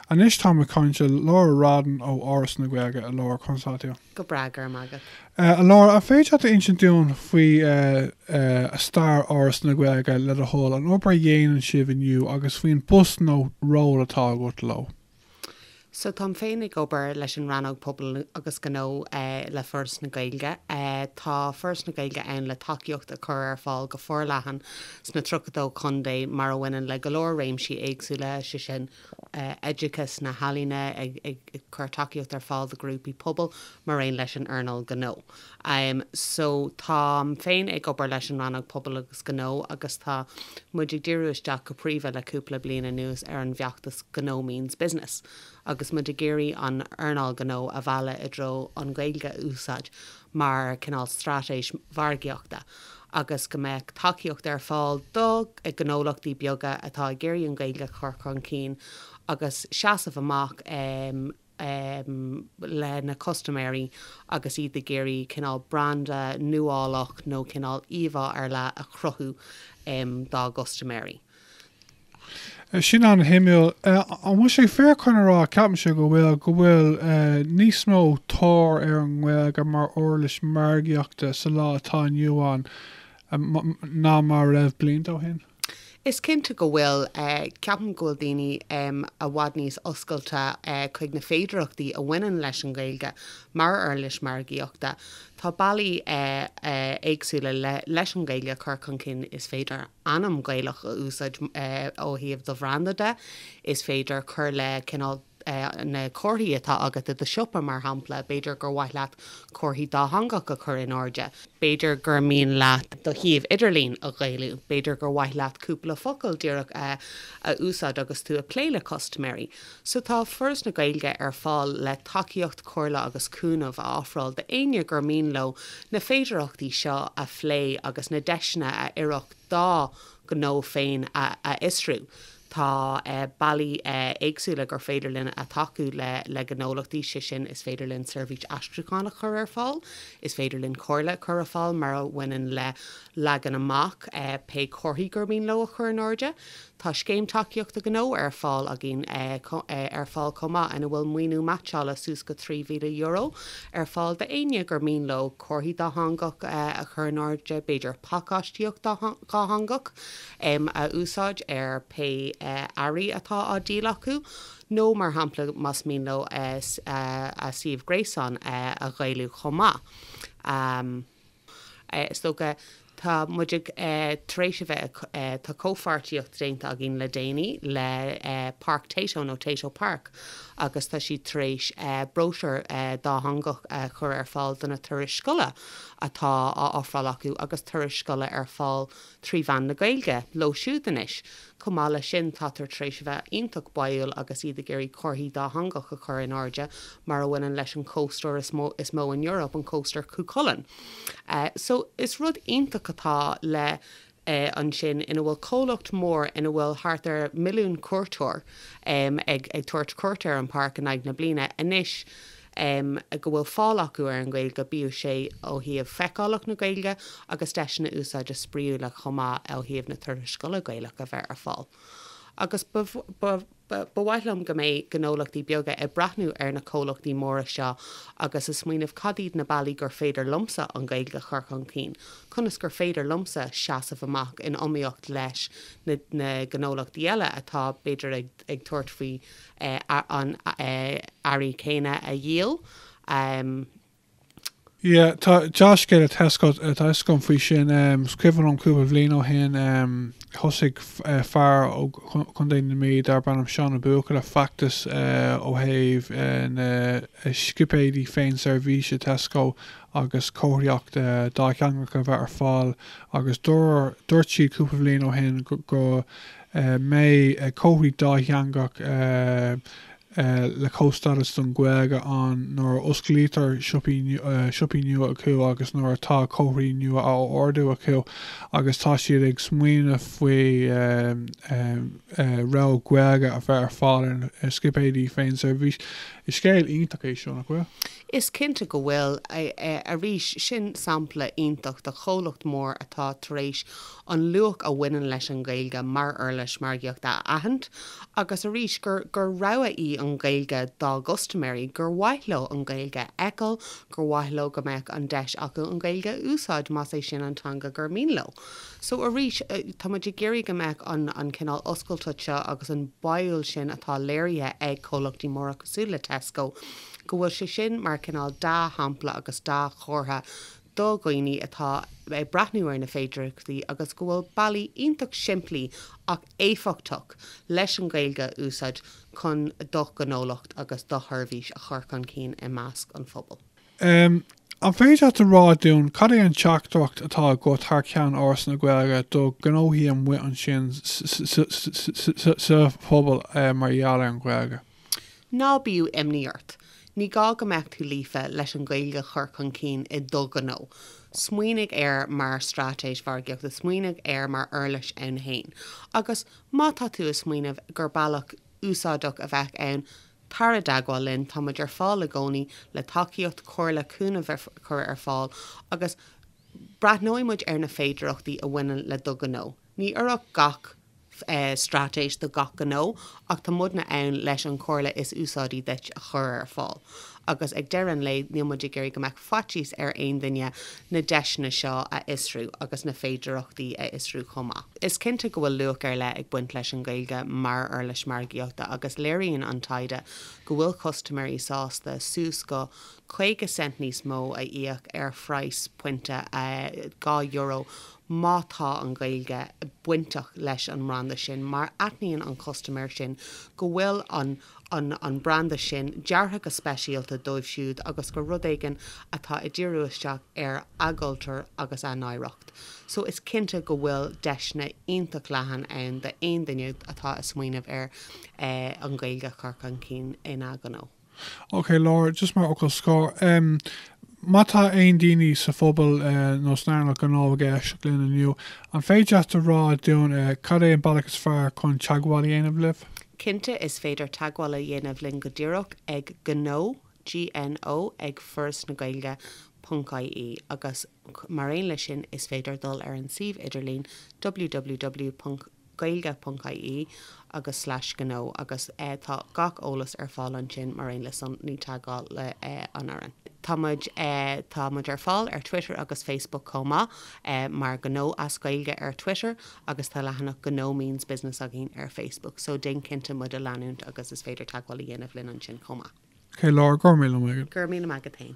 Anois táim ag caint le Laura Radden ó Áras na Gaeilge. A Laura, conas atá tú? Go breá, go raibh maith agat. A Laura, an féidir leat a insint dúinn faoi stair Áras na Gaeilge, le do thoil, an obair a dhéanann sibh inniu agus faoin bpost nó ról atá agat leo? So táim féin ag obair leis an Rannóg Pobail agus Gnó le Foras na Gaeilge. Tá Foras na Gaeilge ann le tacaíocht a chur ar fáil go forleathan sna 32 contae, mar a bhaineann le go leor réimsí éagsúla, sé sin, oideachas, na healaíona, ag cur tacaíocht ar fáil do ghrúpaí pobail, mar aon leis an earnáil ghnó. So, táim féin ag obair leis an Rannóg Pobail agus Gnó agus tá muid ag díriú isteach go príomha le cúpla bliain anuas ar an bhfeachtas Gnó Means Business agus muid ag iarraidh an earnáil ghnó a mhealladh i dtreo an Ghaeilge a úsáid mar chineál straitéis mhargaíochta agus go mbeadh tacaíocht ar fáil do ghnólachtaí beaga atá ag iarraidh an Ghaeilge a chur chun cinn agus seasamh amach lena custaiméirí agus iad ag iarraidh cineál branda nuálach nó cineál íomhá ar leith a chruthú dá gcustaiméirí. Sin an-shuimiúil. An bhfuil sé fíor chun a rá, ceapaimse go bhfuil, go bhfuil níos mó tóir ar an nGaeilge mar uirlis mhargaíochta sa lá atá inniu ann ná mar a raibh blianta ó shin? Is cinnte go bhfuil. Ceapaim go bhfuil daoine i bhfad níos oscailte chuig na féidearthachtaí a bhaineann leis an nGaeilge mar uirlis mhargaíochta. Tá bealaí éagsúla leis an nGaeilge a chur chun cinn, is féidir ainm Gaelach a úsáid ó thaobh do bhranda de. Is féidir cur le cineál na comharthaí atá agat i do shiopa, mar shampla, b'fhéidir gur mhaith leat comharthaí dátheangach a chur in airde, b'fhéidir gur mian leat do shuíomh idirlín a Ghaelú, b'fhéidir gur mhaith leat cúpla focal díreach a úsáid agus tú ag plé le custaiméirí. So, tá Foras na Gaeilge ar fáil le tacaíocht, comhairle agus cúnamh a ofráil d'éinne gur mian leo na féidearthachtaí seo a phlé agus na deiseanna a oirfeadh dá ngnó féin a fhiosrú. Tá bealaí éagsúla gur féidir linn a tacú le gnólachtaí, sé sin, is féidir linn seirbhís aistriúcháin a chur ar fáil, is féidir linn comhairle a chur ar fáil mar a bhaineann le leagan amach pé comharthaí gur mian leo a chur in airde, Tá Scéim Tacaíochta Gnó ar fáil againn ar fáil chomh maith ina bhfuil maoiniú meaitseála suas go €3,000 ar fáil d'éinne gur mian leo comharthaí dátheangach a chur in airde, b'fhéidir pacáistíocht dhátheangach a úsáid ar pé earraí atá á díol acu nó mar shampla más mian leo a suíomh gréasáin a Ghaelú chomh maith. is dócha, tá muid ag, tar éis a bheith, tá comhpháirtíocht déanta againn le déanaí le Páirc Tayto nó Tayto Park agus tá siad tar éis bróisiúr dátheangach a chur ar fáil do na turais scoile atá á n-ofráil acu agus turais scoile ar fáil trí mheán na Gaeilge, leo siúd anois. Chomh maith leis sin, tátar tar éis a bheith iontach báúil agus iad ag iarraidh comharthaí dátheangach a chur in airde mar a bhaineann leis an cóstóir is mó in Eoraip, an cóstóir Chú Chulainn. So, is rud iontach atá le ansin ina bhfuil comhlacht mór ina bhfuil thart ar milliún cuairteoir ag tabhairt cuairt ar an páirc in aghaidh na bliana. Anois. go bhfuil fáil acu ar an nGaeilge, bíodh sé ó thaobh feiceálacht na Gaeilge agus deiseanna úsáide spraíúla chomh maith ó thaobh na turais scoile Gaelach a bheith ar fáil. Agus ba mhaith liom go mbeidh gnólachtaí beaga ag breathnú ar na comhlachtaí móra seo agus ag smaoineamh cad iad na bealaí gur féidir liomsa an Ghaeilge a chur chun cinn, conas gur féidir liomsa seasamh amach in iomaíocht leis na gnólachtaí eile atá b'fhéidir ag. ag tabhairt faoi an earra céanna a dhíol. Sea, tá deá-scéal le Tesco agam faoi sin. Is cuimhin liom cúpla bhliain ó shin, thosaigh fear ó Chontae na Mí darb ainm Seán Ó Buachalla feachtas ó thaobh na scipéidí féin-seirbhíse Tesco agus comharthaíocht dátheangach a bheith ar fáil agus dúirt siad cúpla bhliain ó shin go mbeidh comharthaí dátheangach le comhstádas don Ghaeilge ann nuair a osclaítear siopaí nua acu agus nuair atá comharthaí nua á ordú acu agus tá siad ag smaoineamh faoi rogha Ghaeilge a bheith ar fáil ar na scipéidí féinseirbhíse. Is scéal iontach é seo, nach bhfuil? Is cinnte go bhfuil. Arís, sin sampla iontach de chomhlacht mór atá tar éis an luach a bhaineann leis an nGaeilge mar uirlis margaíochta a aithint, agus arís, gur rogha í an Ghaeilge dá gcustaiméirí, gur mhaith leo an Ghaeilge a fheiceáil, gur mhaith leo go mbeadh an deis acu an Ghaeilge a úsáid más é sin an teanga gur mian leo. So arís, tá muid ag iarraidh go mbeadh an cineál oscailteacht seo agus an baúil sin atá léirithe ag comhlachtaí móra cosúil le Tesco, go bhfuil sé sin mar cineál dea-shampla agus dea-chomhartha do dhaoine atá ag breathnú ar na féidearthachtaí agus go bhfuil bealaí iontach simplí ach éifeachtach leis an Ghaeilge a úsáid chun do ghnólacht agus do sheirbhís a chur chun cinn i measc an phobail. An féidir leat a rá dúinn cad é an teachtaireacht atá agat thar ceann Fhoras na Gaeilge do ghnóthaí amuigh ansin sa phobal mar gheall ar an Ghaeilge? Ná bíodh imní ort. Ní gá go mbeadh tú líofa leis an Ghaeilge a chur chun cinn i do ghnó. Smaoinigh air mar straitéis mhargaíochta, smaoinigh air mar uirlis ann héin. Agus má tá tú ag smaoineamh gur bealach úsáideach a bheith ann, tar i dteagmháil linn, tá muid ar fáil i gcónaí le tacaíocht, comhairle, cúnamh a chur ar fáil agus breathnóidh muid ar na féidearthachtaí a bhaineann le do ghnó. Ní oirfeadh gach. straitéis do gach gnó, ach tá muidne ann leis an chomhairle is úsáidí duit a chur ar fáil. Agus ag deireadh an lae, níl muid ag iarraidh go mbeadh faitíos ar aon duine na deiseanna seo a fhiosrú agus na féidearthachtaí a fhiosrú chomh maith. Is cinnte go bhfuil luach ar leith ag baint leis an nGaeilge mar uirlis margaíochta agus léiríonn an taighde go bhfuil custaiméirí sásta suas go 50 cent níos mó a íoc ar phraghas pointe, €2, má tá an Ghaeilge bainteach leis an mbranda sin, mar aithníonn an custaiméir sin go bhfuil an branda sin deartha go speisialta dóibh siúd agus gur rud éigin atá ag díriú isteach ar a gcultúr agus a n-oidhreacht so is cinnte go bhfuil deiseanna iontach leathan ann d'aon duine atá ag smaoineamh ar an Ghaeilge a chur chun cinn ina ghnó. OK, Laura, just mar fhocal scor, em, má tá aon daoine sa phobal, eh, nó san earnáil gnó ag éisteacht linn inniu, an féidir leat a rá dúinn, eh, cad é an bealach is fearr chun teagmháil a dhéanamh libh? Cinnte, is féidir teagmháil a dhéanamh linn go díreach ag gnó, G N O, ag Foras na Gaeilge, ponc IE, agus, mar aon leis sin, is féidir dul ar an suíomh idirlín www. gaeilge ponc ie agus slais gnó agus tá gach eolas ar fáil ansin mar aon le sonraí teagmháil le an fhoireann. Tá muid Tá muid ar fáil ar Twitter agus Facebook chomh maith mar Gnó as Gaeilge ar Twitter agus tá leathanach Gnó Means Business againn ar Facebook so déan cinnte muid a leanúint agus is féidir teagmháil a dhéanamh linn ansin chomh maith. OK Laura, go raibh míle maith agat. Go raibh míle maith agat héin.